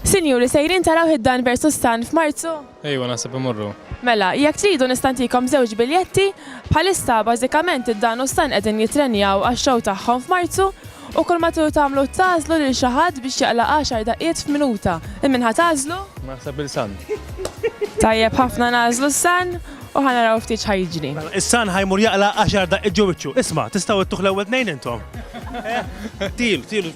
Sinjuri, sejrin taraw id-dan versus tan f'Marzu? Ejwa, naħseb imorru. Mela, jekk tridu nista' ntikom żewġ biljetti, bħalissa bażikament id-dan u s-san qegħdin jittrenjaw għax-show tagħhom f'Marzu u kull ma tridu tagħmlu tagħżlu lil xi ħadd biex jaqla' għaxar daqqiet f'minuta. Lil min ħa tagħżlu? Naħseb lil San. Tajjeb ħafna nagħżlu s-san u ħa naraw ftit x'ħa jiġri. Mela, is-san ħa jmur jaqla' għaxar daqqiet ġo wiċċu. Isma', tistgħu ittuh l-ewwel tnejn intom? Tieru, tieru.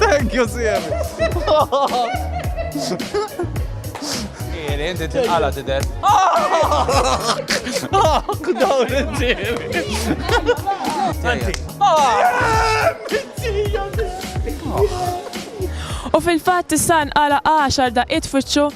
Thank you, Siem. Iri, inti tinqala tidher. Dawn il-ġieli. Anzi. U fil-fatt issa nqala għaxar daqqiet fuċċu